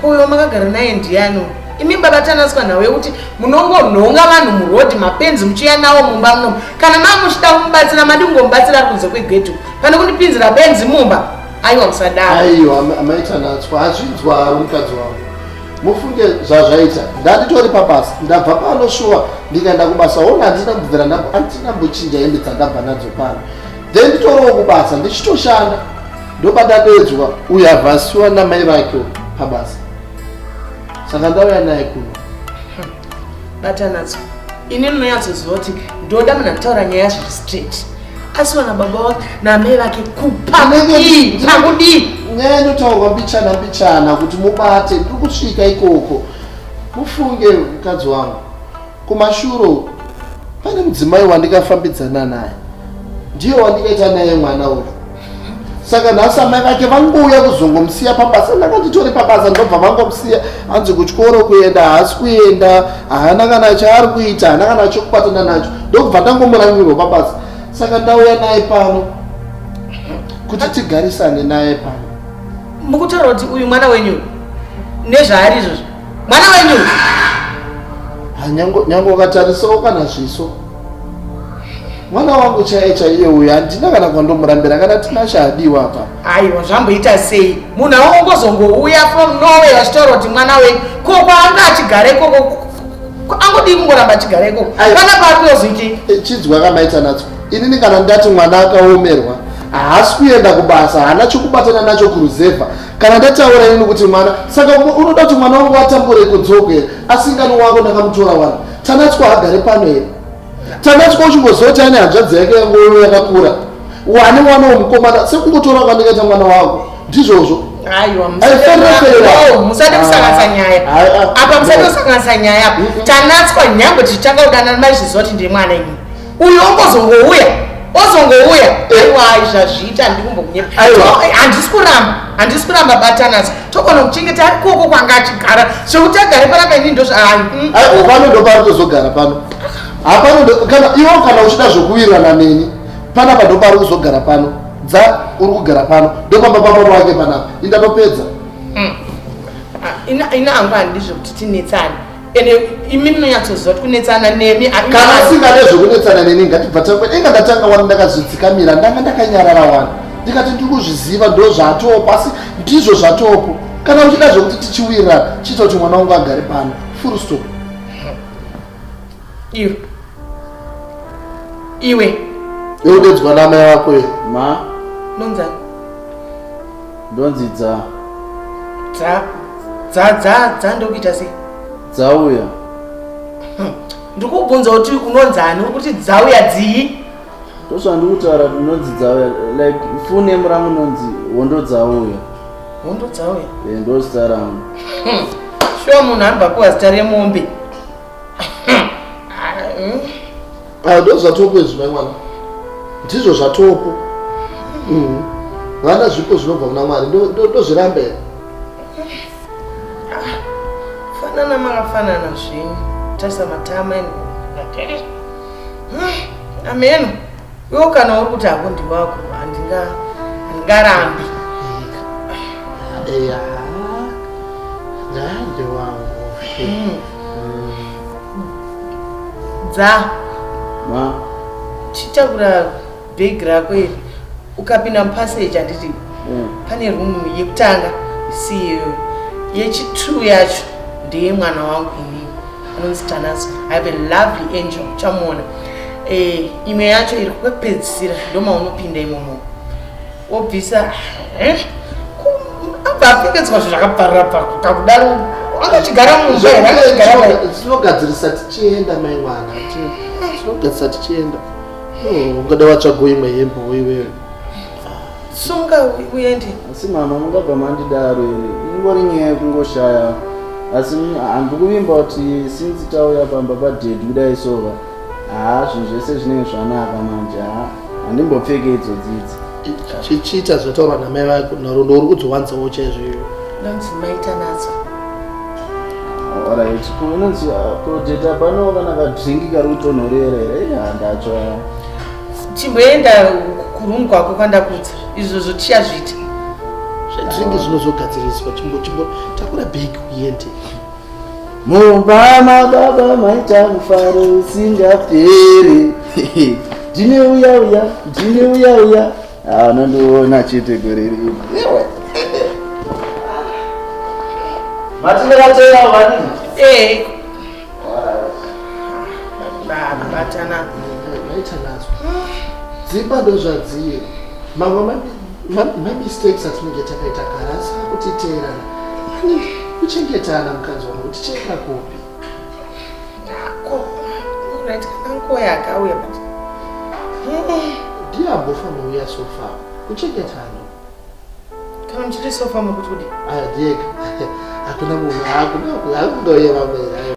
Kuyo makagara naye ndiyano imi baba tanaswa nhau yekuti munongonhonga vanhu murodhi mapenzi muchiuya nawo mumba munomu kana maa muchida kumubatsira madi kungomubatsira ari kunze kwegedhu pane kundipinzira benzi mumba aiwa musadaro aiwa amai tanatswa azvinzwa mukadzi wavo mufunge zvazvaita ndanditori pabasa ndabva pano shuwa ndikaenda kubasa ona handina kubvira handina mbochinja hembe dzandabva nadzo pano then nditorowo kubasa ndichitoshanda ndopatatedzwa uye avhasiwa namai vake pabasa saka ndauya naye kuno batanadzo ini ndinonyatsoziva kuti ndoda munhu akutaura nyaya zviri straight asi vana baba vake namai vake kupakudii nyaya inotaurwa mbichana mbichana kuti mubate ndiri kusvika ikoko mufunge mukadzi wangu Kumashure uko pane mudzimai wandikafambidzana naye ndiye wandikaita naye mwana uyu saka nhasi amai vake vangouya kuzongomusiya pabasa ndakanditori pabasa ndobva vangomusiya hanzi kutyoro kuenda haasi kuenda haana kana chaari kuita haana kana chokubatana nacho ndokubva ndangomurangirwa pabasa saka ndauya naye pano kuti tigarisane naye pano mukutaura kuti uyu mwana wenyu nezvaari izvozvo mwana wenyu ah, nyange ukatarisawo kana zviso mwana wangu chaiye chaiye uyu handina kana kwandomurambira kana tina chaadiwa apa aiwa zvamboita sei munhu awongozongouya from norway vachitaura kuti mwana wenyu ko kwaanga achigare ikoko angodii kungoramba achigare ikoko kana kwaarikuyozoitei eh, chinzwa kamaita nadzo inini kana ndati mwana akaomerwa haasi kuenda kubasa haana chokubatana nacho kuruzevha Kana ndataura ini kuti mwana saka unoda kuti mwana wangu atambure kudzogo here asingani wako ndakamutora wani tanatswa hagare pano here tanatswa uchingoziva kuti ane hanzvadzi yake yangoyo yakakura wane mwana wemukomana sekungotora kwandikaita mwana wangu ndizvozvo musati kusanganisa nyaya apa musati kusanganisa nyaya tanatswa nyangwe tichitanga kudanana maizviziva kuti ndiri mwana ini uyu ongozongouya ozongouya aiwa zvazviita ndikumbokunyehandisi kuramba handisi kuramba batanazo togona kuchengeta ari koko kwanga achigara zvekuti agare pana kaini ndozvaaiopano mm. ndopari tozogara pano hapano kana iwo kana uchida zvokuwirirana neni panapa ndopari kuzogara pano dza uri kugara pano ndopamba pamoro wake panapa indatopedza mm. ah, ina hangu handizvokuti tinetsani ende imi munonyatsoziva kuti kunetsana nemi kana usingade zvekunetsana neni ngatibva tangwe inga ndatanga wani ndakazvidzikamira ndanga ndakanyarara wani ndikati ndiri kuzviziva ndo zvatoopo asi ndizvo zvatoopo kana uchida zvekuti tichiwirira chiita kuti mwana wangu agare pano full stop iwe iwe eudedzwa namai wako ye ma nonzani ndonzi dza dza dza dza dza ndokuita sei dzauya hm, ndikubvunza kuti unonzi ani uri kuti dzauya dzii ndozvandikutaura kuti ndonzi dzauya like fune murangu nonzi hondo dzauya hondo dzauya e eh, ndozita rangu hm, shuwa munhu anobapiwa zita remombe hm. Ah, ndozvatopo izvi mai mwana ndizvo zvatopo mm. vana zvipo zvinobva kuna mwari ndozviramba here ah, fanana makafanana zvenyu tarisa matama ino ah, ameno iwo kana uri kuti hako ndiwako handingarambi eya ndandiwangu dza ma chitakura bag rako iri ukapinda mupassage handiti mm. pane room yekutanga isiyo yechitru yacho ndeye mwana wangu ini anonzi tanaso i have a lovely angel uchamuona eh, imwe yacho iri kwekupedzisira ndomaunopinda imomo obvisa eh? abva apfekedzwa zvinhu zvakaparira pako kakudaro akachigara mumba here akachigara mai tinogadzirisa tichienda mai mwana tinogadzirisa tichienda oh, ungada watsvago imwe hembe woiwewe sunga uende asi mama mungabva mandidaro iri ingori nyaya yekungoshaya asi handikuvimba kuti sinzi tauya pamba padedi kudai sova Haa zvinhu zvese zvinenge zvanaka manje haa handimbopfeke idzo dzidzi. Chichiita zvataurwa namai vako narudo uri kudziwanzawo chaizvoivo. Nonzi maita nadzo. Alright, ko inonzi project apa no kana kadrink kari kutonhorera here? Eh, handacho. Chimboenda kuroom kwako kwandakudza. Izvo zvochiya zviita. Zvedrink zvinozogadziriswa chimbo chimbo takura bag uende. mumba mababa maita mufaro usingaperi ndine uya uya ndine uya uya anondiona chete gore rino matinakatera vani eh. dzimba ndo zvadziye mamwe mamistakes atinenge takaita kare asi akutiteerana anenge kuchengetana mukanzi wangu tichaenda kupi yako unaita kanguva yakauya but ndiye ambofa mauya sofa kuchengetana kana muchiti sofa mukuti kudi adiyeka hakuna munhu hakuna kundoyeva mera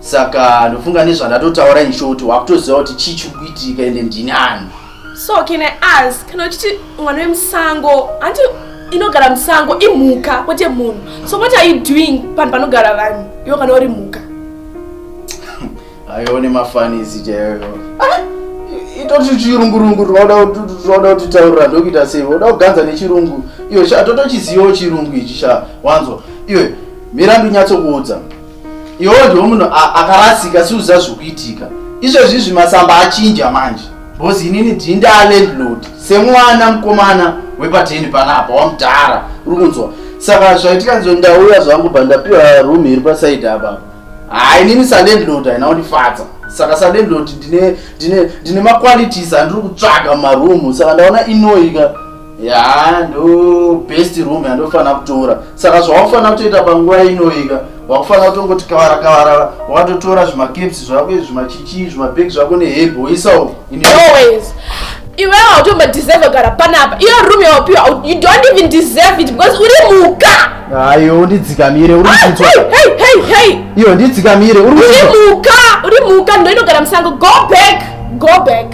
saka ndofunga nezvandatotaura inshoti wakutoziva kuti chii chiri kuitika ende ndini ani so can i ask kana uchiti mwana wemusango hanti inogara musango imhuka kwete munhu so what are you doing panhu panogara vanhu iwo kana uri mhuka aione mafanisi chaiyo ah, itoti chirungurungu rinoda kuti taurira ndokuita sei voda kuganza nechirungu iyo sha totochizivawo chirungu ichi sha wanzwa iwe mirandu nyatsokuudza iwo ndiwo munhu akarasika siuziva zvikuitika izvezvi izvi masamba achinja manje bhozi inini ndii ndaalandlord semwana mukomana wepateni panapa wamudhara uri kunzwa saka zvaitika nzo ndauya zvangu bva ndapiwa room iri pasaidi apapa haa inini salandlord haina kundifadza saka salandlord ndine maqualities andiri kutsvaga mumaroom saka ndaona inoika yaa ndo best room yandofanira kutora saka zvawafanira kutoita panguva inoika wakufanira kutongoti kavara kavara wakatotora zvimakeps zvako izvi zvimachichi zvimabhek zvako neheb woisa uko iwe hautomba deserve gara panapa iyo room yawapiwa you don't even deserve it because uri muka ayo ndidzikamire uri iyo ndidzikamire uri muka uri muka ndoinogara musango go back go back